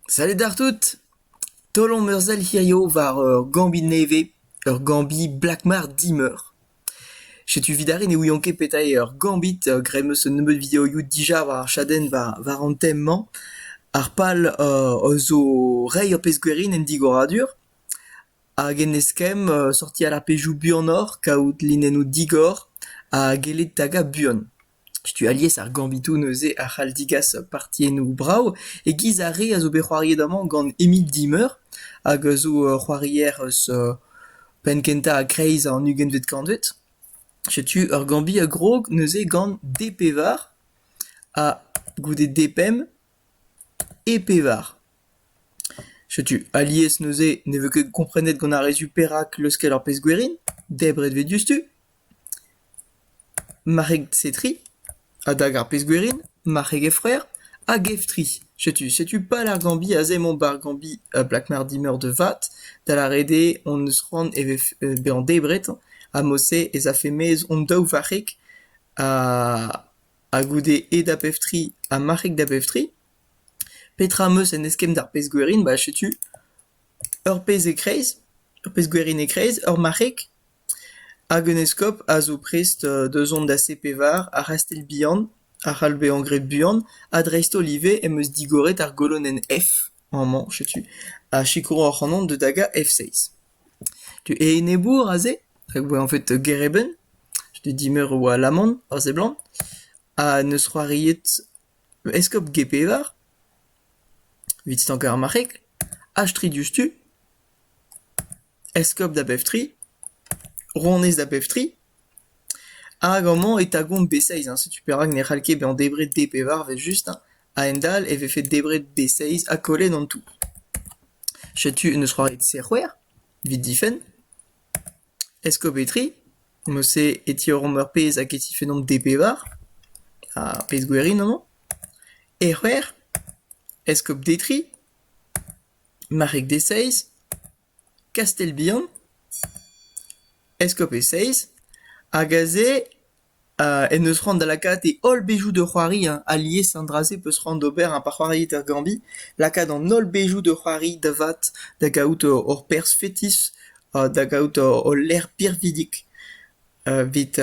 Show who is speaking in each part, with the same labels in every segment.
Speaker 1: Salut d'ar tout! Taol omp ur sell hiziv war ur gambi nevez, ur gambi Black Mart dimeur. Setu evit aze ne ouian ket petra eo ur gambit, graet 'm eus un nebeud videoioù dija war ar chadenn war an tem-mañ. Ar pal zo reiñ ur pezh gwerin en digoradur hag en eskemm sortiñ ar pezhioù buanoc'h, kaout linennoù digor ha gellet tagañ buan. Setu alies ar gambitoù neuze a c'hall digas partiennoù brav e-giz ar re a zo bet c'hoariet amañ gant Émile Dimeur hag a zo c'hoarier eus penn-kentañ a-kreiz an ugentvet kantved. Setu ur gambi a grog neuze gant D-pevar ha goude D-pemp E pevar. Setu alies neuze ne vez ket komprenet gant ar re zu perak leuskel ar pezh gwerin, debret 'vez diouzhtu. Marc'heg Setri adag ar pezh-gwerin, marc'heg he frer, hag Eftri. Setu, setu pal ar Gambi aze emañ 'ba ar Gambi Blakmardi meur de vat, da lâret eo hon eus c'hoant e vefe bezañ debret ha mod-se ez afe maez hon daou varc'heg ha goude aet da Beftri ha marc'heg da Beftri. Petra am eus en eskemm d'ar pezh-gwerin? Ba setu ur pezh e-kreiz, ur pezh-gwerin e-kreiz, ur marc'heg. Hag un eskob a zo prest da zont da Sepevar ha Rastell-Bihan a c'hall bezañ graet buan ha dreist-holl ivez em eus digoret ar golonenn F amañ setu a sikouro ac'hanon da dagañ F6. Tu e enebour aze rak e oa anvet Gereben, c'hwec'h dimeur a oa alaman a seblant ha n'eus c'hoariet eskob Gepevar evit stankañ ar marc'heg ha stridioù-stu. Eskob da bep tri, ronez da bep tri, hag amañ e tagomp B6, hein, setu perak ne c'hall ket bezañ debret D-pevar evel-just, hein. A-hend-all e vefe debret B6 ha kollet an tour. Setu un eus c'hoariet Serc'hwec'h, evit difenn. Eskob e tri, mod-se e tiorromp ur pezh hag e tifennomp D-pevar, ha pezh gwirion amañ. E c'hwec'h, eskob D tri, Marc'heg Deseiz, Kastell-Bihan, Eskob Eseiz, hag aze en deus c'hoant da lakaat e holl bezioù da c'hoari. Alies an dra-se 'peus c'hoant d'ober ha pa c'hoariit er Gambi, lakaat an holl bezioù da c'hoari da vat, da gaout hor perzh fetis ha da gaout hol lec'h birvidik evit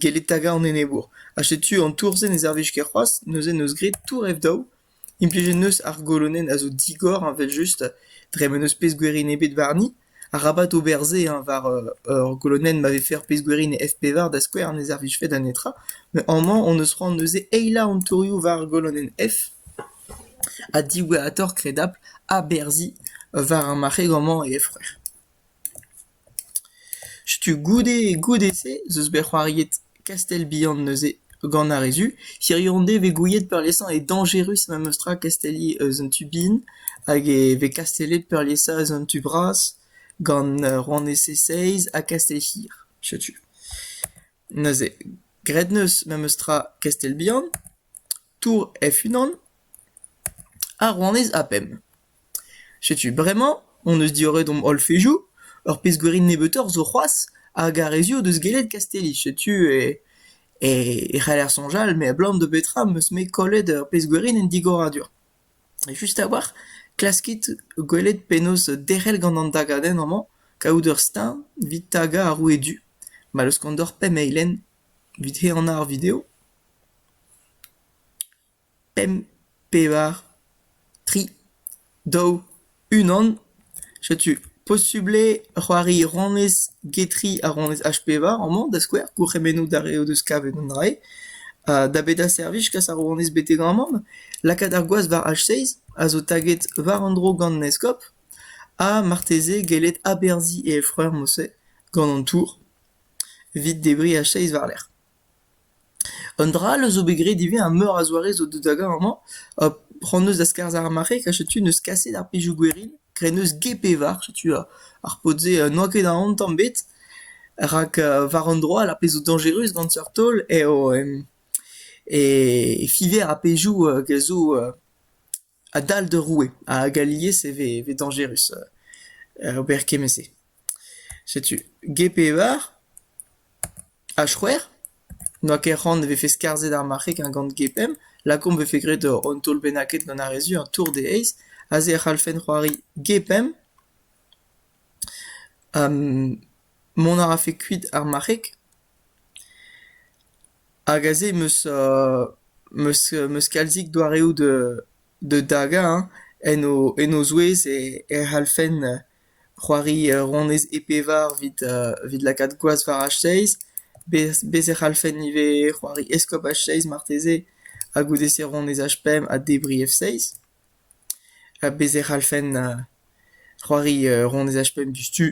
Speaker 1: gellet tagañ an enebour. Ha setu an tour-se ne servij ket c'hoazh, neuze 'neus graet tour ev daou. Implijet 'neus ar golonenn a zo digor evel-just dre ma n'eus pezh-gwirion ebet warni. Arabat ober se hañ war ur golonenn ma vefe ur pezh-gwirion e F-pevar da skouer ne servijfe da netra. Met amañ hon eus c'hoant neuze eilañ an torioù war ar golonenn F ha diwezhatoc'h kredabl aberzhiñ war ar marc'heg amañ e F-c'hwec'h. Setu goude goude-se ez eus bet c'hoariet Kastell-Bihan neuze gant ar re zu. Hiziv on bet gouiet peurliesañ eo dañjerus memestra Kastelli eus an tu bihan hag e vez kastellet peurliesañ eus an tu bras gant rouanez Seiz ha Kastell-Hir. Setu. Neuze graet 'neus memestra Kastell-Bihan, Tour F-unan ha rouanez Apem. Setu bremañ hon eus diorret hom holl fezioù. Ur pezh gwerin nebeutoc'h zo c'hoazh hag ar re-se o deus gellet Kastelli. Setu e e e c'haller soñjal met abalamour da betra am eus-me kollet ur pezh gwerin en digoradur. Just a-walc'h klaskit gwelet penaos derc'hel gant an dagadenn amañ kaout ur steuñv evit tagañ ar roue du ma laoskont deoc'h pemp eilenn evit he annañ ar video. pemp, pevar, tri, daou, unan. Setu posubl eo c'hoari ronez getri ha ronez H-pevar amañ, da skouer, gourc'hemennoù d'ar re o deus kavet an dra-se. Ha da bedañ servij kas ar ronez betek amann, lakaat ar gwaz war H-seiz a zo taget war un dro gant an eskob, ha marteze gellet aberzhiñ e efreur-mousset gant an tour evit debriñ H-seiz war-lerc'h. Un dra all zo bet graet ivez, ha meur a zoare zo deuet da gaout amañ. Hon-eus da skarzhañ ar mare, ka setu neus kaset ar pezhioù gwerin, kreneus g-pevar, setu ar paotr-se n'oa ket aon tamm ebet. Rak war un droad, ar pezh zo dañjerus gant seurt taol eo e fiver ar pezhioù a zo A-dal d'ur roue hag alies e vez e vez dañjerus ober kement-se. Setu G-Pevar ha C'hwec'h. N'oa ket c'hoant e vefe skarzhet ar marc'heg ha gant G-Pemp lakaomp e vefe graet un taol bennaket gant ar re zu, un tour d'e aez. Aze e c'hallfen c'hoari G-Pemp. mont a rafe kuit ar marc'heg. Hag aze em eus em eus kalzik doareoù da dagañ hein en o en o zouez e c'hallfen c'hoari ronez e-pevar evit lakaat gwaz war a-zeiz. Bez e c'hallfen ivez c'hoari eskob a-zeiz marteze ha goude-se ronez H5 ha debriñ F6. Ha bez e c'hallfen c'hoari ronez H5 diouzhtu.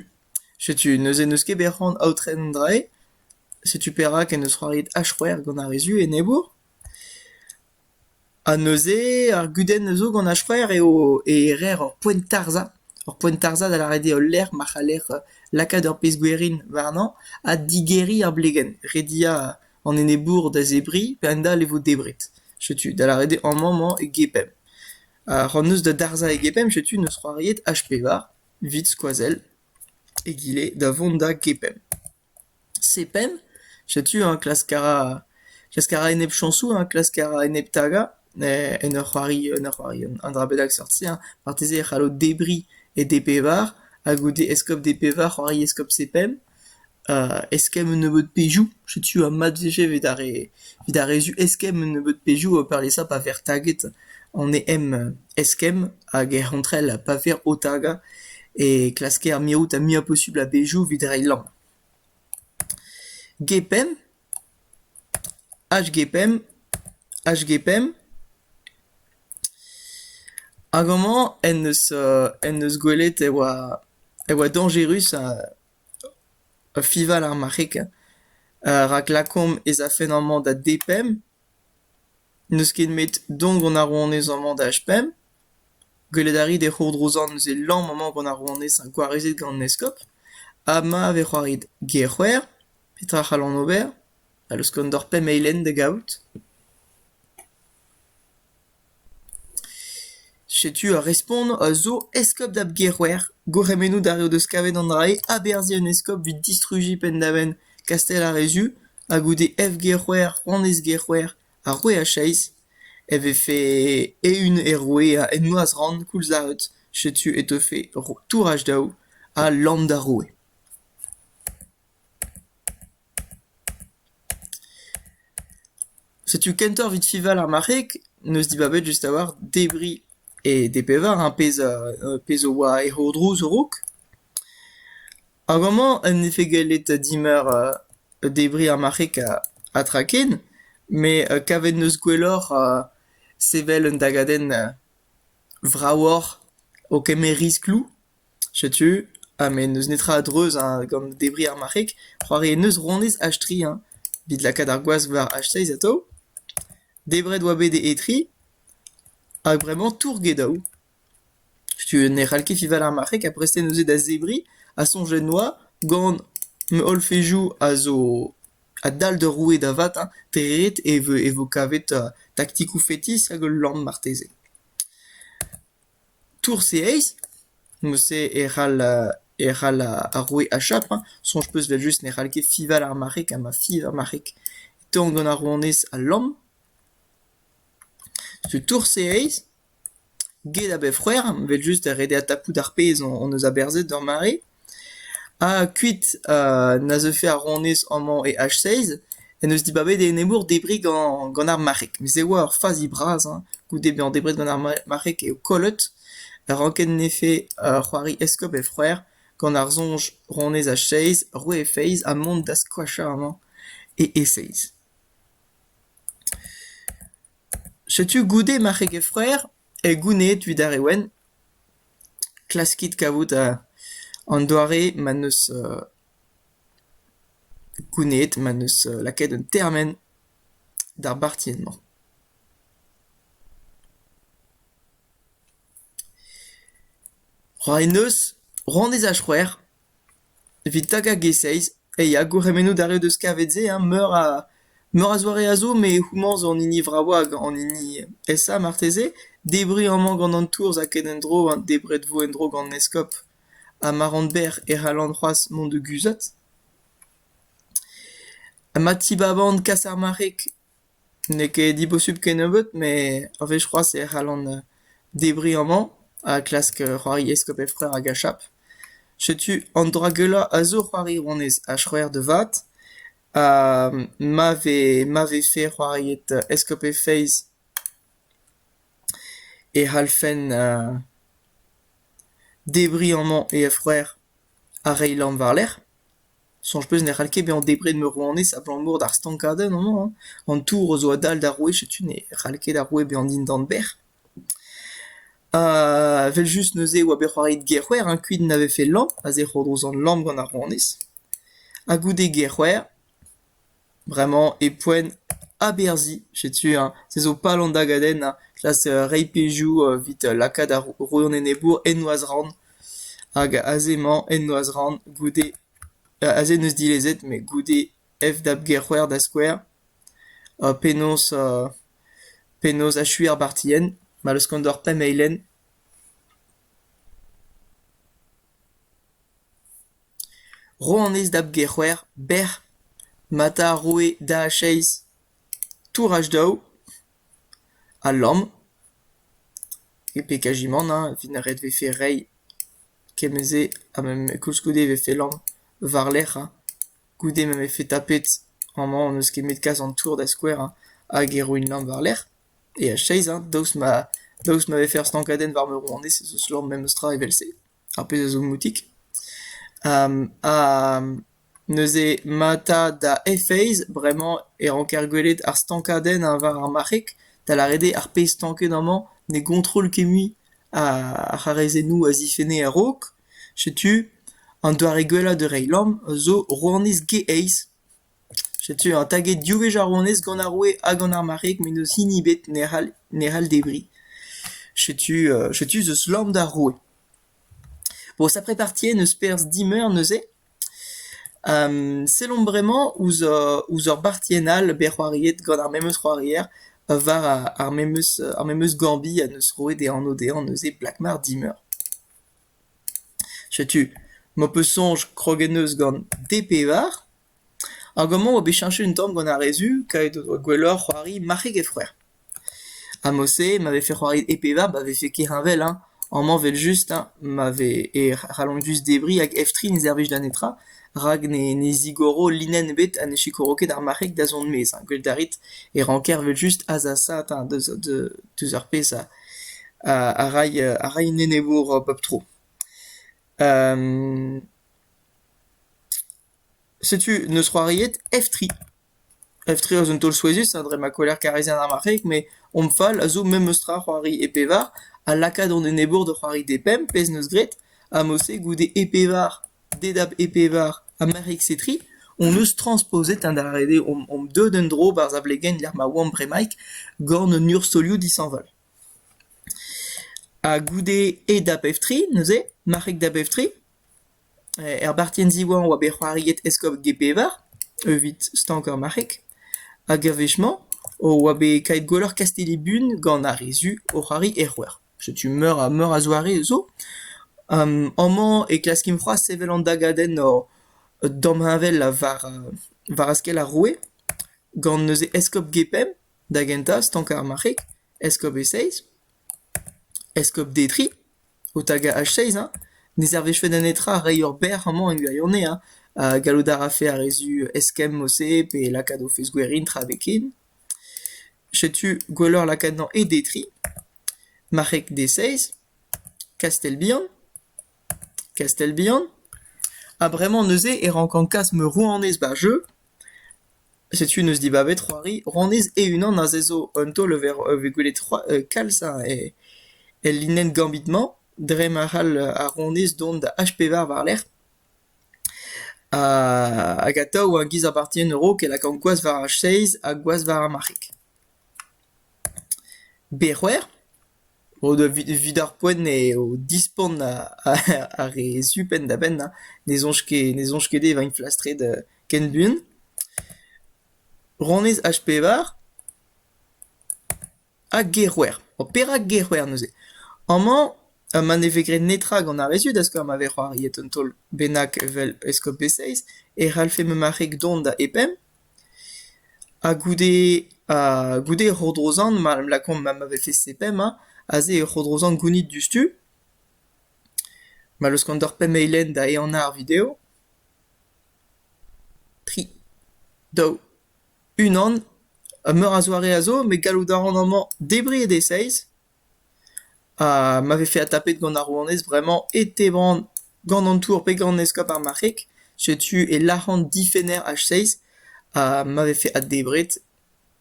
Speaker 1: Setu neuze n'eus ket bet c'hoant aotren an dra-se. Setu perak en deus c'hoariet H-C'hwec'h gant ar re zu enebour. Ha neuze ar gudenn a zo gant H-C'hwec'h eo e reer ur poent tarzhañ, ur poent tarzhañ da lâret eo ul lec'h ma c'haller lakaat ur pezh gwerin warnañ ha digeriñ ar blegenn, rediañ an enebour da zebriñ pe a-hend-all e vo debret. Setu da lâret eo amañ-mañ e gepemp. C'hoant 'neus da darzhañ e gepemp setu 'neus c'hoariet H-Pevar evit skoazell egile da vont da gepemp. Sepen, setu eñ klask a ra klask a ra enep chañsoù eñ klask a ra enep tagañ en ur c'hoari en ur c'hoari un dra bennak seurt-se eñ. Marteze e c'hallo debriñ e D-pevar ha goude eskob D-pevar c'hoari eskob Sepen eskemm un nebeud pezhioù. Setu ha mat vije evit ar re evit ar re zu eskemm un nebeud pezhioù ha peurliesañ pa vec'h taget an EM eskemm. hag er c'hontrel pa vir Otaga e klasker mirout ar muiañ posubl a-bezhioù evit reiñ lamm. G-pemp, H-G-pemp, H-G-pemp, hag amañ en deus en deus gwelet e oa e oa dañjerus fival ar marc'heg rak lakaomp ez afen amañ da D-pemp. N'eus ket 'met don gant ar rouanez amañ da h-pemp ? Gwelet a ri d'he c'hourdrouzan eus he lamm amañ gant ar rouanez gwarezet gant an eskob ha ma vez c'hoariet ger-c'hwer, petra c'hallan ober ? A leuskont oc'h pemp eilenn da gavout ? Setu ar respont a zo eskob da g-c'hwer, gourc'hemennoù d'ar re o deus kavet an dra-se, aberzhiñ un eskob evit distrujiñ penn-da-benn Kastell ar re Zu. ha goude evgec'hwec'h annezgec'hwec'h ha c'hwec'h ha seizh e vefe eeun er roue en noazh-rann koulzaret setu e teufe touraj daou ha lamm d'ar roue. Setu kentoc'h evit fiñval ar marc'heg, 'neus dibabet just a-walc'h debriñ E d'e bevar ar pezh a pezh a oa e c'hourdrouz a-raok. Hag amañ en defe gallet dimeur debriñ ar marc'heg ha tra ken, met kavet neus gwelloc'h sevel un dagadenn vravoc'h o kemer riskloù, setu, ha met n'eus netra a-dreuz gant debriñ ar marc'heg. C'hoari en deus honnezh H3 evit lakaat ar gwaz war H6 atav. Debret oa bet e etriñ hag bremañ tourget eo. Setu ne c'hall ket Fival ar Marc'heg ha prest eo neuze da zebriñ ha soñjet 'noa gant holl fezioù a zo a-dal d'ur roue da vat hein, dre ret e vo kavet taktikoù fetis hag ul lann marteze. Tour-se aes ? Mod-se e c'hall e c'hall ar roue achap hein, soñj 'peus evel-just ne c'hall ket fiñval ar marc'heg ha ma fiñv ar marc'heg. Tonk gant ar rouanez ha lamm. Setu tour-se aes. Get a bep c'hwec'h, evel-just da redek ha tapout ar pezh hon eus aberzhet d'hor mare. Ha kuit na zeufe ar rouanez amañ e H-seiz en deus dibabet e nemeur debriñ gant gant ar marc'heg. Mez e oa ur fazi bras hein goude bezañ debret gant ar marc'heg eo kollet a rankennefe c'hoari eskob he c'hoar gant ar soñj rouanez H-seiz roe he feiz ha mont da skoachañ amañ e E-seiz. Setu goude ma c'hegefroer eo gounezet evit ar re wenn. Klaskit kavout an doare ma 'neus gounezet, ma 'neus lakaet un termen d'ar bartienn-mañ. C'hoari 'neus, c'hoant ez a c'hwec'h. Evit tagañ G6 eh ya gourc'hemennoù d'ar re 'deus kavet se hein meur a meur a zoare a zo met houmañ zo an hini vravañ hag an hini esa marteze. Debriñ amañ gant an tourzh a-ket en-dro hein debret vo en-dro gant an eskob ha ma ran berr e c'hallan c'hoazh mont da guzhat. Ha ma tibaban kas ar marc'heg N'eo ket dibosubl kennebeut met ur wech c'hoazh e c'hallan debriñ amañ ha klask c'hoari eskob Efre'r hag Achab. Setu an dra geulañ a zo c'hoari rouanez ha c'hwec'h da vat. Ha ma vez ma vefe c'hoariet eskob he feiz e c'hallfen debriñ amañ he c'hwec'h ha reiñ lamm war-lerc'h. Soñj 'peus ne c'hall ket bezañ debret meur-rouanez abalamour d'ar stankadenn amañ, an tour zo a-dal d'ar wech, setu ne c'hall ket ar roue bezañ dindan bec'h. Evel-just neuze e oa bet c'hoariet Gerc'hwer, hein, kuit na vefe lamm, a-zec'h o-dro sant Lamm gant ar rouanez. Ha goude Gerc'hwer... Bremañ e poent aberzhiñ, setu se zo pal an dagadenn klas reiñ pezhioù evit lakaat ar rannenebour en noazh-rann hag aze-mañ en noazh-rann goude aze n'eus dilezet met goude FDAP-Gerc'hwer da skouer penaos penaos achuiñ ar bartienn ma leuskont oc'h pemp eilenn. Ro anez da bGerc'hwec'h bec'h ma ta roe da acheiz touraj daou ha lamm. E pe kajimant hein evit na ret vefe reiñ kement-se ha ma koulskoude e vefe lamm war-lerc'h hein. Goude ma vefe tapet amañ hon eus kemmet kas an tour da skouer hein hag e roin lamm war-lerc'h e acheiz hein daoust ma daoust ma vefe ur stankadenn war ma ro anez ez eus lamm memes tra evel-se. ar pezh a zo moutik. ha neuze mata da e-feiz bremañ e ranker gwelet ar stankadenn war ar marc'heg, da lâret eo ar pezh stanket amañ ne gontroll ket mui ar c'harrezennoù a zifenne a-raok. Setu an doare gwellañ da reiñ lamm zo rouanez Geaiz. Setu eñ taget div wech ar wonez gant ar roue ha gant ar marc'heg met n'eus hini ebet ne c'hall debriñ. Setu setu ez eus lamm d'ar roue. Bon sapre parti eo n'eus perzh dimeur neuze. sellomp bremañ ouzh ouzh ur bartienn all bet c'hoariet gant ar memes c'hoarier war ar memes ar memes gambiñ a neus roet e anv dezhañ neuze Blakmar dimeur. Setu m'ho peus soñj krog en deus gant D-Pevar hag amañ 'oa bet cheñchet un tamm gant ar re zu kavet o doa gwelloc'h c'hoari marc'heg e frouezh. Ha mod-se ma vefe c'hoariet E-Pevar ma vefe ket heñvel hein, amañ 'vel-just hein ma vez e c'hallont just debriñ hag F3 ne servij da netra rak ne ne zigoro linenn ebet ha ne sikouro ket ar marc'heg da zont 'maez hein. Gwelit a rit e ranker 'vel-just azasaat hein deus deus ar pezh a a ray a ray an enebour bep tro. setu n'eus c'hoariet F3. F3 a zo un taol souezhus ha dre ma kollec'h karizian ar marc'heg met hom fal a zo memestra c'hoari e pevar ha lakaat hon enebour da c'hoari d'e pemp pezh 'neus graet ha mod-se goude e pevar. Dedap e pevar ha merc'hig-se tri hon eus transposet adarre dezhe omp deuet en-dro barzh ar blegenn-lec'h ma oamp bremaik gant un urzhiolioù dishañval. Ha goude aet da bep-tri neuze, marc'hig da bep-tri, er bartienn ziwezhañ oa bet c'hoariet eskob G-Pevar evit stankañ marc'hig hag a-wech-mañ oa bet kaet gwelloc'h Kastelli-Bun gant ar re zu o c'hoari er c'houer. Setu meur a meur a zoare zo. Amañ e klaskimp c'hoazh sevel an dagadenn damheñvel war war askell ar roue gant neuze eskob Gepemp da gentañ, stankañ ar marc'heg, eskob E-Seiz, eskob Detri o tagañ H-Seiz hein. Ne servijfe da netra reiñ ur bec'h amañ en gwirionez hein. Gallout a rafe ar re zu eskemm o se pe lakaat o fezh-gwerin tra be ken. Setu gwelloc'h lakaat-mañ e Detri, Marc'heg Deseiz, Kastell-Bihan, Kastell-Bihan, ha bremañ neuze e rankan kas ma rouanez ba'r jeu. Setu neus dibabet c'hoari rouanez e-unan aze zo un taol-levr eo vez gwelet c'hoa- kalz el linenn gambit-mañ dre ma c'hall ar rouanez dont da H-pevar war-lerc'h. Hag atav war giz ar Parti en a-raok e lakaomp gwazh war ar chaise ha gwazh war ar marc'heg. Be c'hwec'h o deus evit ar poent eo dispont ar re su penn-da-benn ne soñj ket ne soñj ket dezhe e vint flastret ken buan. Rannyezh H pevar. Ha Gerwer. Ha perak Gerwer neuze? Amañ, ma ne vez graet netra gant ar re zud a skouer ma vez c'hoariet un taol bennak evel Eskob Besseiz, e c'hallfe ma marc'heg dont da e-penn. Ha goude ha goude Rodrozan, ma em lakaomp ma ma vefe e-penn ma, aze eo Rodrozan gounit diouzhtu, ma leuskont doc'h pemp eilenn da ehanañ ar video. Tri, daou. Unan, ha meur a zoare a zo, met gallout a ran amañ debriñ e deseiz. Ha ma vefe adtapet gant ar rouanez bremañ e teban gant an tour pe gant eskob ar marc'heg. Setu e lâran difenner H6 ha ma vefe addebret,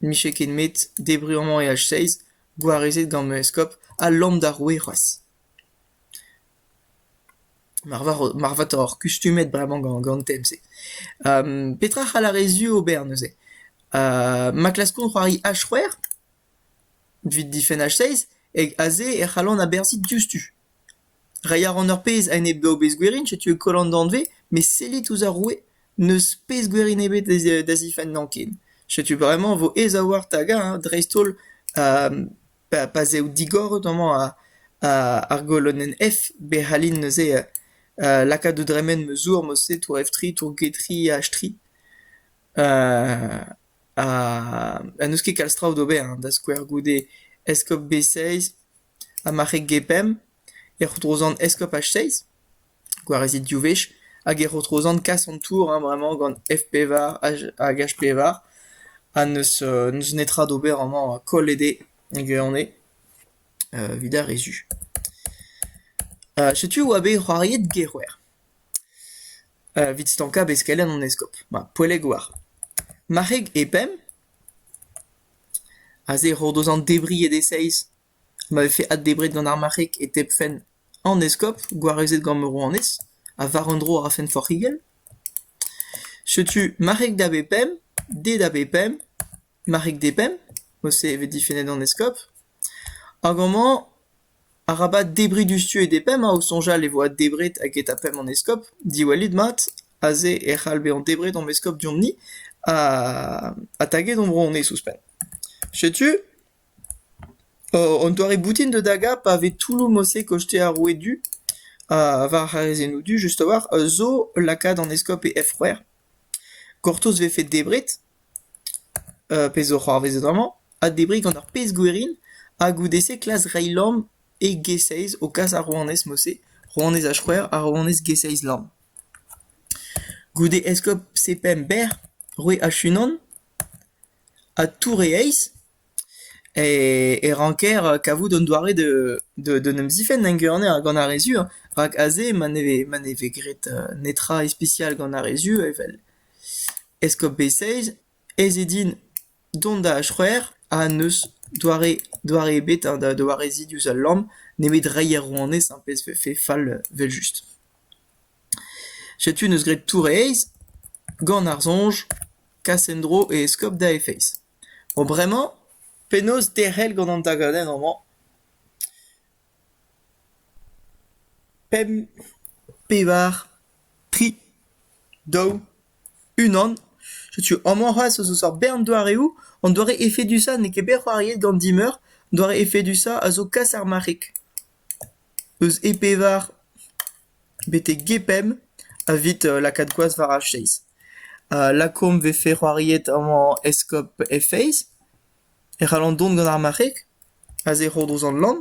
Speaker 1: 'mije ket 'met debriñ amañ e H6, gwarezet gant ma eskob, ha lamm d'ar roue c'hoazh. Marvatoc'h kustumet bremañ gant an tem-se. petra a c'hall ar re zu ober neuze? ma klaskont c'hoari H-c'hwec'h evit difenn H-seiz hag aze e c'hallont aberzhiñ diouzhtu. Reiñ a ran ur pezh a-enep daou bezh gwerin, setu e koll an danvez, met sellit ouzh ar roue, n'eus pezh gwerin ebet da zifennañ ken. Setu bremañ e vo aes a-walc'h tagañ dreist-holl Pa z'eo digoret amañ ar golonenn F be c'hallin neuze lakaat da dremen ma zour mod-se tour F3, tour G3 H3. ha n'eus ket kalz traoù d'ober da skouer goude eskob B6 ha ma c'heg G5 e c'houltro 'zan eskob H6. gwarezit div wech hag e ro Trozan kas an tour hein bremañ gant F pevar hag H pevar ha n'eus n'eus netra d'ober amañ koll eo dezhe gwirionez evit ar re zu. Setu e oa bet c'hoariet Gec'houer evit stankañ beskelenn an eskob. Ma poellek oar. Marc'heg e pemp, aze e ro dezhañ debriñ e d-e-seizh ma vefe addebret gant ar marc'heg e tebfent an eskob, gwarezet gant rouanez, ha war un dro a rafent forc'higell ? Setu marc'heg da bep pemp, de da bep pemp, marc'heg de pemp, mod-se e vez difennet an eskob, hag amañ, arabat debriñ diouzh tu e de pemp, ha o soñjal e vo addebret hag e ta pemp an eskob, diwallit mat, aze e c'hall bezañ debret omp eskob deomp-ni, ha, ha taget hon bro honnezh ouzhpenn. Setu, Un doare boutin da dagañ pa vez toulloù morse koshtet ar roueed du war ar c'hazezennoù du just a-walc'h zo lakaat an eskob e f-c'hwec'h. Gortoz 'vefe debret, pezh zo c'hoarvezet amañ, ha debriñ gant ur pezh gwerin ha goude-se klask reiñ lamm e g-seizh o kas ar rouanez morse, rouanez h-c'hwec'h ha rouanez g-seizh lamm. Goude eskob sepemp berr, roue h-unan, ha tour e eizh. e ranker kavout un doare d'en em zifenn en ganer gant ar re zu rak aze ma ne vez ma ne vez graet netra ispisial gant ar re zu evel eskob Beyssage ez eo din dont da achouer ha n'eus doare doare ebet da wareziñ diouzh al lamm nemet reiñ er rouanez ar pezh vefe fall evel-just. Setu 'neus graet tour e aez gant ar soñj kas en-dro e eskob da e feiz. Bo bremañ, penaos derc'hel gant an dagadenn amañ ? Pemp, pevar, tri, daou, unan. Setu amañ c'hoazh ez eus ur bern doareoù. An doare efedusañ n'eo ket bet c'hoariet gant Dimeur. Doare efedusañ a zo kas ar marc'heg. Eus e pevar. Betek get pemp evit lakaat gwazh war ar chaise. Lakaomp 'vefe c'hoariet amañ Eskob he feiz, e c'hallan dont gant ar marc'heg aze e Rodoz an Lann,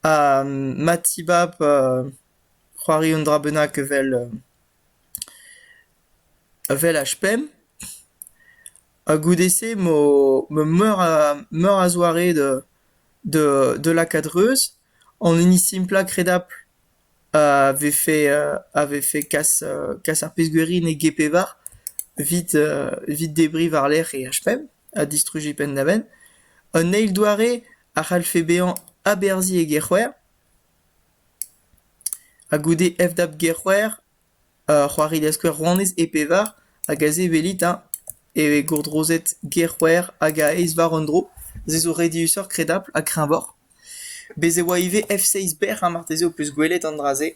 Speaker 1: ha ma tibab c'hoari un dra bennak evel evel H-pemp, ha goude-se 'vo meur a meur a zoare da da lakaat reuz. An hini simplañ kredapl a vefe a vefe kas kas ar pezh-gwirionez e g-pevar evit evit debriñ war-lerc'h e HPM ha distrujiñ penn-da-benn. Un eil doare a c'hallfe bezañ aberzhiñ e gerc'hwer ha goude FDAP gerc'hwer c'hoari da skouer rouanez e-pevar hag aze welit hein eo gourdrozet gerc'hwer hag a-eizh war un dro. Se zo re diaesoc'h kredapl ha kreñvoc'h. Bez' e oa ivez F-seizh-berr ha marteze ho peus gwelet an dra-se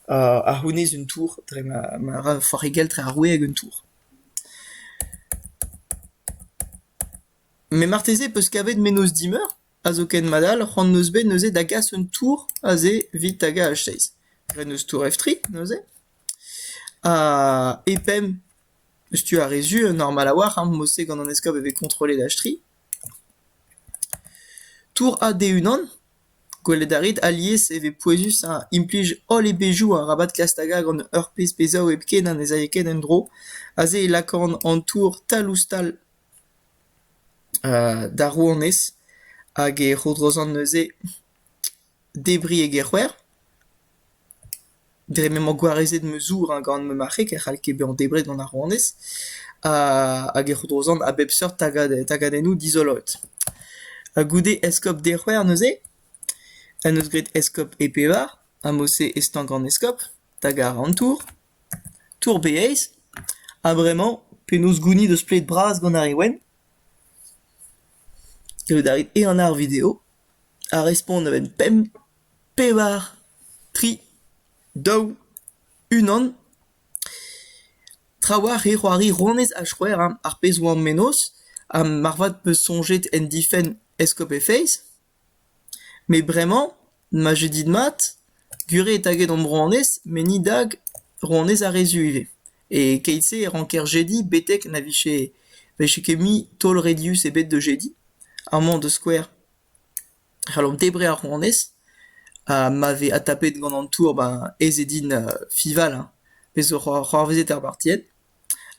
Speaker 1: a c'hounez un tour dre ma ma ra ur c'hoarigelc'h dre ar roue hag un tour. Met marteze ho peus kavet mennozh dimeur ha zoken madal c'hoant 'neus bet neuze da gas un tour aze evit tagañ H-seizh. Graet 'neus tour F-tri neuze. Ha E-pemp, tu ar re zu normal a-walc'h, hein, mod-se gant an eskob e vez kontrollet H-tri. Tour ha de-unan ? Gwelet a rit alies e vez pouezus implij holl e bezhioù arabat klask da gaout gant ur pezh bezaou hepken ha ne z'aio ket en-dro. Aze e lakaont an tour tal-ouzh-tal d'ar rouanez hag e c'hourdrozont neuze. Debriñ e gerc'hwer ? Dre m'emañ gwarezet ma zour gant ma marc'heg e c'hall ket bezañ debret gant ar rouanez hag e c'houdrozan a bep seurt tagadennoù dizoloet. Ha goude eskob Derc'hwer neuze en deus graet eskob e pevar ha mod-se e-stañk an eskob hag àr an tour, tour Baiays. Ha bremañ penaos gounit ur splet bras gant ar re wenn ? Kaout a rit ehan-ar video ha respont a-benn pemp, pevar, tri, daou, unan. Trawalc'h eo c'hoari rouanez ha c'hwec'h ar pezh 'oan mennozh ha marvat 'peus soñjet en difenn Escope Face. Met bremañ, ma jeu dit mat, gure eo taget hon rouanez met ni dag rouanez ar re zu ivez. E keit-se e ranker jediñ betek na vije vije ket mui taol redius ebet da jediñ. Amañ da skouer, e c'hallomp debriñ ar rouanez ha ma vez adtapet gant an tour ben ez eo din Fival hein, pezh zo c'hoar- c'hoarvezet er bartied.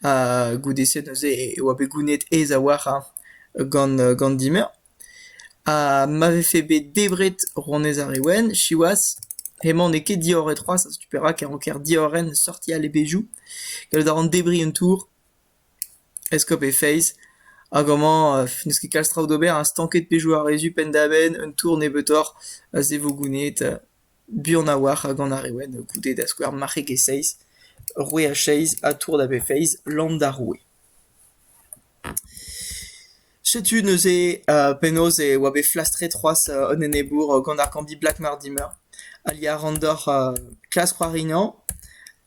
Speaker 1: Ha goude-se neuze e oa bet gounid aes a-walc'h hein gant gant dimeur. Ha ma vefe bet debret rouanez ar re Wenn, siwazh, hemañ n'eo ket diorret c'hoazh setu perak e ranker diorren sortiñ al levezioù, gallout a ran debriñ un tour, eskob he feiz, hag amañ n'eus ket kalz traoù d'ober, ha stanket pezhioù a rezu penn-da-benn, un tour nebeutoc'h, a-se vo gounezet. Buan a-walc'h ha gant ar re wenn, goude, da skouer marc'heg e seizh, roue a seizh ha tour da befeiz, lamm d'ar roue. Setu neuze penaos e oa bet flastret c'hoazh an enebour gant ar Kambi Black Mortimer. Ali a ran deoc'h klask c'hoarignañ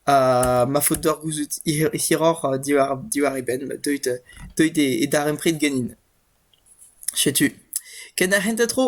Speaker 1: ha ma faot deoc'h gouzout hiroc'h diwar e benn, deuit e darempred ganin. Setu, ken ar hent a dro !